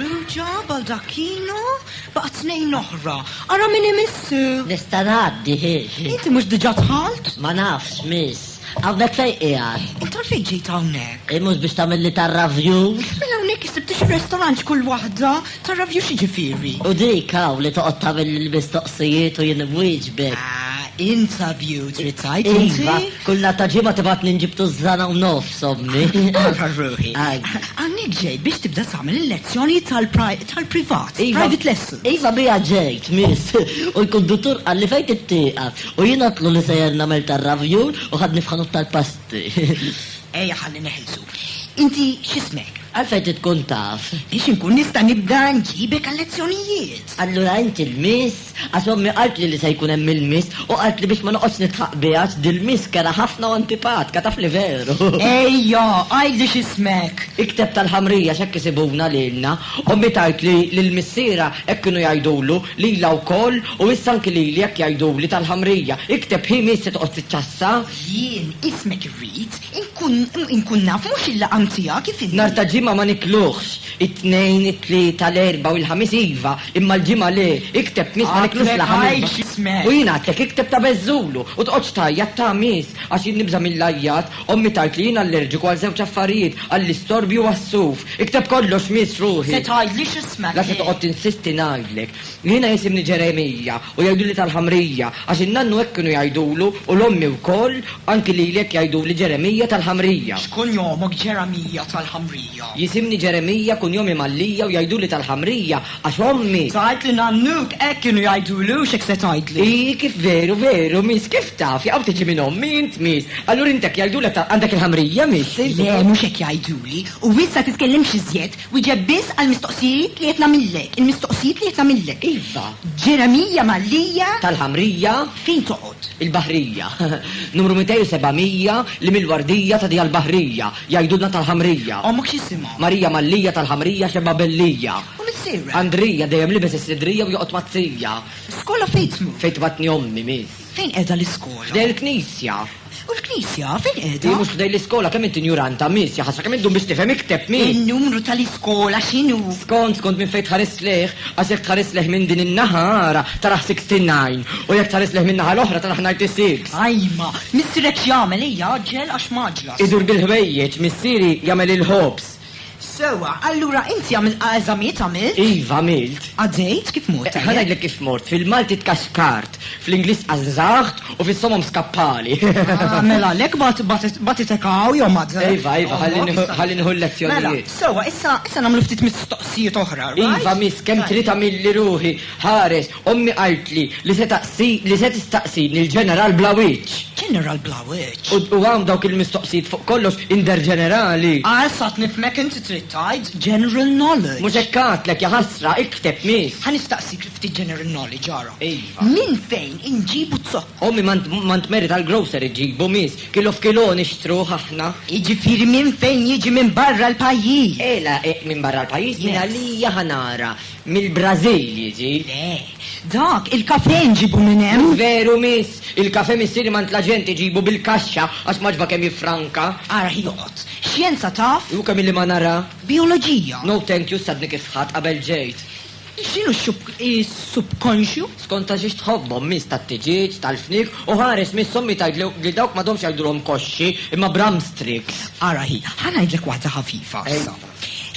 Ruġa, Baldacchino, baqa' tnejn oħra. Ara min imissu. Nista' ngħaddi, hi, hi. Inti mhux diġà dħalt? Ma nafx, miss. Hawnhekk fejn qiegħed? Int għalfejn ġejt hawnhekk? Hi mhux biex tagħmilli tar-ravjus? Mela hawnhekk isibtu xi restorant x'kull waħda? Tar-ravjus x'jiġifieri? U dik hawn li toqgħod tagħmilli l-mistoqsijiet u jien inwieġbek? Ah, interview trid tgħid inti? Iva, kull nhar ta' Ġimgħa tibgħatni nġib tużżana u nofs. Sobni, għarfar ruħi. Għannik ġej biex tibda tagħmel il-lezzjoni tal-privat, iva. private lesson. Iva bija ġejt, miss, u l-konduttur għalli fejn tittieqa, u jien għatlu li sejjer nagħmel tar-ravjun u ħadni f'ħanut tal-pasti. Ejja ħalli neħilsu. Inti x'ismek? Għalfejn titkun taf? Biex inkun nista' nibda nġibek għal-lezzjonijiet. Allura inti l-miss? Għax ommi qaltli li se jkun hemm il-miss u qaltli biex ma noqgħodx nidħaq biha għax dil-miss kera ħafna u antipatka, taf li veru. Ejja, għidli x'ismek. Ikteb tal-Ħamrija x'hekk isibuna lilna. Ommi tgħidli li l-missierha hekk kienu jgħidulu lilha wkoll u issa anki lili hekk jgħiduli tal-Ħamrija. Ikteb hi miss se toqgħod tiċċassa. Jien ismek irrid inkun inkun naf mhux il-laqam tiegħek kif inhi. Nhar ta' Ġimgħa ma nikluhx. It-Tnejn, it-Tlieta, l-Erbgħa u l-Ħamis iva, imma l-Ġimgħa le, ikteb Ħmiss ma niklux la Ħamis bla. U jien għadtlek ikteb ta' beżżulu u tqgħodx tgħajjat ta' Ħamis għax jien nibża' mill-għajjat, ommi tgħid li jien allerġiku għal żewġ affarijiet, għall-istorbju u għas-suf. Ikteb kollox Miss ruħi. La se toqgħod tinsisti ngħidlek. Jiena jisimni Ġeremija u jgħiduli tal-Ħamrija għax in-nannu hekk kienu jgħidulu u l-ommi wkoll, anki lili hekk jgħiduli Ġeremija tal-Ħamrija. X'kunjomok Ġeremija tal-Ħamrija? Jisimni Ġeremija, kunjomi Mallia u jgħiduli tal-Ħamrija għax ommi. Tgħid li nannuk hekk kienu jgħidulu u x'hekk se tgħidli. Hi, kif veru, veru, miss, kif taf, jaqaw tiġi minn ommi int, miss. Allura int hekk jgħidulek tal-, għandek il-Ħamrija, miss, int. Le, mhux hekk jgħiduli. U issa titkellimx iżjed, wieġeb biss għall-mistoqsijiet li qed nagħmillek, il-mistoqsijiet li qed nagħmillek. Iva. Ġeremija Mallia. Tal-Ħamrija. Fejn toqgħod? Il-Baħrija. Numru 207 li mill-Wardija tagħti għall-Baħrija. Jgħidulna tal-Ħamrija. Ommok x'jisimha? Marija Mallija tal-Ħamrija xebgħa bellija. U missierek? Andrija dejjem libes is-sidrija u joqgħod mat-tija. Skola fejn tmur? Fejn tbagħtni ommi, miss. Fejn qiegħda l-iskola? F'dejn il-knisja. U l-knisja fejn qiegħda? Hi mhux f'dejn l-iskola, kemm int injuranta, miss, ja ħasra kemm iddum biex tifhem, ikteb, miss. In-numru tal-iskola x'inhu? Skont, skont minn fejn tħares lejh, għax jekk tħares lejh minn din in-naħa, ara, tarah sixty nine, u jekk tħares lejh min-naħa l-oħra tarah ninety six. Ajma, missierek x'jagħmel, ejja għaġġel għax mgħaġġla. Idur bil-ħwejjeġ, missieri jagħmel il-ħobż. Sewwa, allura inti għamilt eżamijiet, għamilt? Iva, għamilt. Għaddejt? Kif mort? Ħa ngħidlek kif mort, fil-Malti tkaxkart, fl-Ingliż qażżaħt u fis-somom skappali. Ah, mela għalhekk bagħtitek hawn jew madda? Iva, iva, ħalli nieħu l-lezzjonijiet. Mela, sewwa, issa nagħmlu ftit mistoqsijiet oħra, right? Iva, miss, kemm trid għamilli ruħi, ħares, Ommi qaltli li se taqsi, li se tistaqsini l-ġeneral bla wiċċ. Ġeneral bla wiċċ? U, u hawn dawk il-mistoqsijiet fuq kollox, Inder Ġenerali. Ah, issa qed nifhmek inti trid tgħid general knowledge. Mhux hekk għadtlek, ja ħasra, ikteb miss. Ħa nistaqsik ftit general knowledge, ara. Iva. Minn fejn inġibu z-zokkor? Ommi ma int, ma int meri tal-grocery ġġibu miss, kilo f'kilo nixtruh aħna. Jiġifieri minn fejn jiġi minn barra l-pajjiż? Eh, la, eh, minn barra l-pajjiż, mingħalija ħa nara. Mill-Brażil jiġi? Le. Dak, il-kafè nġibu minn hemm. Mhux veru, miss. Il-kafè missieri m'għand l-aġent iġibu bil-kaxxa, għax ma ġba kemm jiffranka. Ara ħin oqgħod. Xjenza taf? U kemm illi ma nara. Bijoloġija? No thank you, stadni kif sħaqt qabel ġejt. X'inhu x-subkonxju? Skont għal xiex tħobbhom, miss, tat-tiġieġ, tal-fniek, u ħares, miss, ommi tgħid li dawk m'għadhomx jgħidulhom koxxi, imma bramstrix. Ara ħin. Ħa ngħidlek waħda ħafifa issa.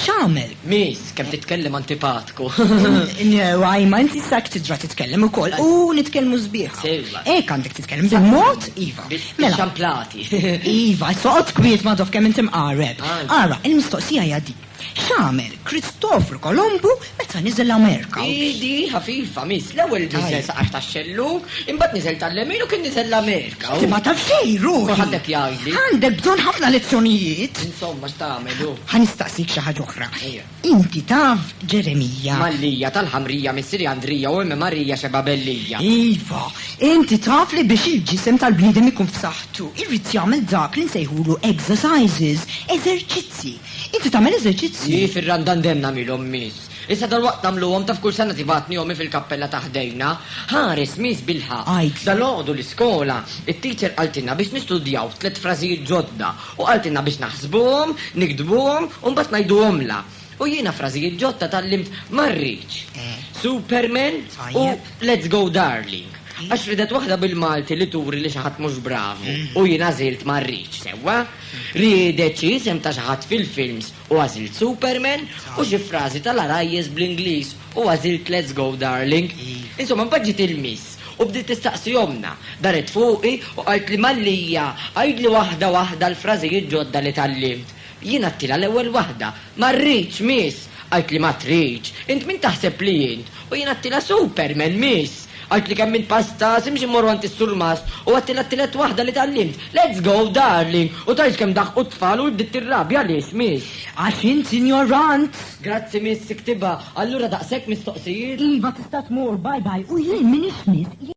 X'għamel? Miss, kemm titkellem antipatku! Għajma, inti issa hekk tidra titkellem ukoll u nitkellmu sbieħ. Sewwa. Hekk għandek titkellem, bil-mod, iva. Mela. Bix-xamplati. Iva, issa oqgħod kwiet ma' Dov kemm inti mqareb. Ara, il-mistoqsija hija din, x'għamel Kristofru Kolombu Meta niżel l-Amerika. Idi ħafifa, miss, l-ewwel niżel saqax tax-xellug, imbagħad niżel tal-lemin u kien niżel l-Amerika. Imma ta' fej, ruħi. Ħaddek jgħidli. Għandek bżonn ħafna lezzjonijiet. Insomma, x'tagħmel hu? Ħa nistaqsik xi ħaġa oħra. Inti taf Ġeremija? Mallija, tal-Ħamrija, missieri Andrija u ommi Marija xebgħa bellija. Iva, inti taf li biex il-ġisem tal-bniedem ikun f'saħħtu, irid jagħmel dak li nsejħulu exercises, eżerċizzji. Inti tagħmel eżerċizzji? Jii, fir-Randan dejjem nagħmilhom, Miss. Issa dalwaqt nagħmluhom, taf kull sena tibgħatni ommi fil-kappella ta' ħdejna. Ħares, Miss, bilħaqq. Għid. Dalgħodu l-iskola, it-teacher qaltilna biex nistudjaw tliet frażijiet ġodda u qaltilna biex naħsbuhom, niktbuhom u mbagħad ngħiduhomlha. U jiena frażijiet ġodda tgħallimt ma rridx, Superman u Let's go darling. Għax ridet waħda bil-Malti li turi li xi ħadd mhux bravu u jien għażilt ma rridx, sewwa? Riedet xi isem ta' xi ħadd fil-films u għażilt Superman u xi frażi tal-għarajjes bl-Ingliż u għażilt Let's go darling. Insomma mbagħad ġiet il-miss u bdiet tistaqsi ommna. Daret fuqi u qaltli Mallia għidli waħda waħda l-frażijiet ġodda li tgħallimt. Jien għadtilha l-ewwel waħda. Ma rridx miss! Qaltli ma tridx! Int min taħseb li int? U jien għattila Superman, miss! Għidtli kemm int pastaz, imxi mmorru għand is-surmast u għattila t-tielet waħda li tgħallimt. Let's go, darling! U tgħidx kemm daħqu t-tfal u int bdiet tirrabja għaliex, miss! Għax int injorant! Grazzi, miss, iktibha. Allura daqshekk mistoqsijiet? Iva, tista' tmur, bye bye. U jien m'iniex miss.